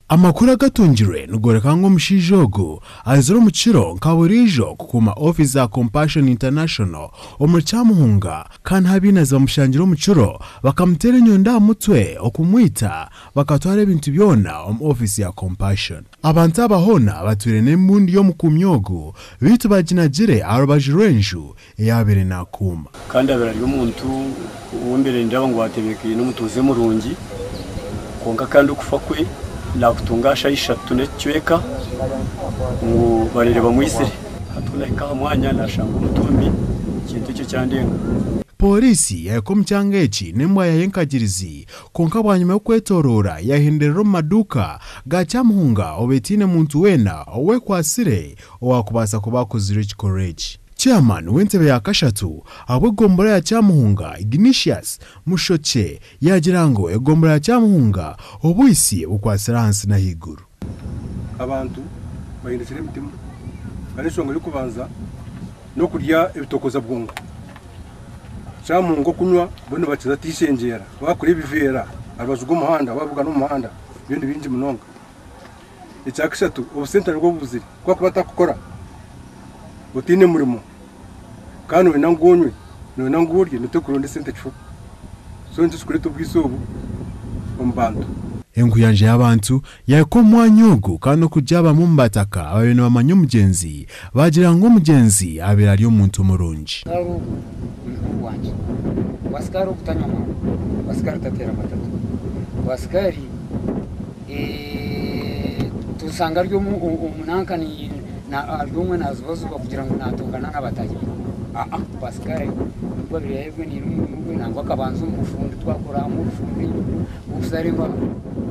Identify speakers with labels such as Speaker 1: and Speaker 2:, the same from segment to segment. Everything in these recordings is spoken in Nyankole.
Speaker 1: Amakuru agatungirwe nigooreka ngu omushaija ogu aizire omu kiro nka buriijo kukuuma ofiisi za Compassion International omuri Kyamuhunga kandi habiina zibamushangire omu kiro bakamuteera enyondo aha mutwe okumwita bakatwara ebintu byona omu ofiisi ya Compassion. Abantu aba hoona batwire n'embundu y'omukuumi ogu beitu baginagire aha rubaju rw'enju eyaabaire naakuuma. Kandi abaire ari omuntu
Speaker 2: ou mbaire nindaba ngu atebeekaine, omutuuze murungi, kwonka kandi okufa kwe naakutunga aha shaaha ishatu n'ekicweka ngu bareere bamwitsire. Hati ku naahika aha mwanya naashanga omutumbi, ekintu ekyo kyandenga. Pooriisi
Speaker 1: yaahika omu kyanga eki n'embwa yaayo enkagirizi, kwonka bwanyima y'okwetooroora yaahenderera omu maduuka ga Kyamuhunga obu etaine muntu weena ou ekwatsire owaakubaasa kuba akozirwe ekikorwa eki. Chairman w'entebe ya kashatu ahabw'egombora ya Kyamuhunga Ignitius Mushokye yaagira ngu egombora ya Kyamuhunga obwitsye bukwatsire ahansi n'ahaiguru. Abantu
Speaker 3: bahindukire emitima kandi enshonga y'okubanza n'okurya ebitokoza bwongo. Kyamuhunga okunywa bariyo nibakiza atishengyeera, waakura ebiveera aharubaju rw'omuhanda, waabugana omu muhanda, byo ni bingi munonga. Ekya kashatu, obusente nibwo bubuzire. Ku akuba atakukora, otaine murimo, kandi noyenda ngu onywe, noyenda ngu orye, noteeka kuronda esente kifo. So nikyo kirikureeta obwisi obu omu bantu. Enkuyanja
Speaker 1: y'abantu yahika omu mwanya ogu, kandi n'okugira abamwe omu bataka abaabaire nibamanya omugyenzi Baagira ngu omugyenzi abaire ari omuntu murungi. Sikaara ogu ni mukuru wangye.
Speaker 4: Wa sikaara ogu tanywa muno. Wa sikaari tateera amatatu. Wa sikaari tushanga ari omu nanka ari omwe naazubazuba kugira ngu naatongana na bataahi be. Aa, wa sikaari nikwo abaire ayegweniire omurimo gwe nangwa akabanza omu bufundi twakora hamwe obufundi, obushare embaaho.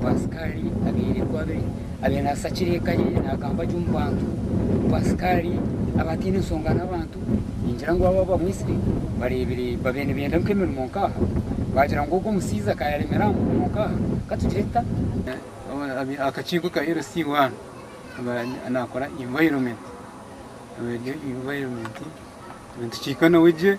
Speaker 4: Wa sikaari abaire ku abere Abire nasakira eka ye nagamba gye omu bantu ngu asikaari aba ataine nshonga n'abantu ningira ngu aba bamwitsire bareebire babe nibenda nka emirimo nka aha bagira ngu ogu omushaija ka yaremera aha murimo nka aha ka tugire tuta? Akakiiko ka LC waaba nakora environment nitukihika nawe gye.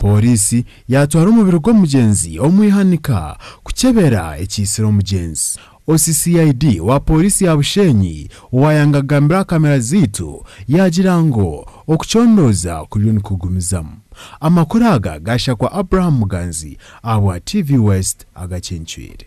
Speaker 1: Pooriisi yaatwara omubiri gw'omugyenzi omu ihanika kukyebera ekiitsire omugyenzi. OCCID wa pooriisi ya Bushenyi owaayanga kugambira aha kamera zaitu yaagira ngu okucondooza kuriyo nikugumizamu. Amakuru aga gaashakwa Abraham Muganzi ahabwa TV West agacencwire.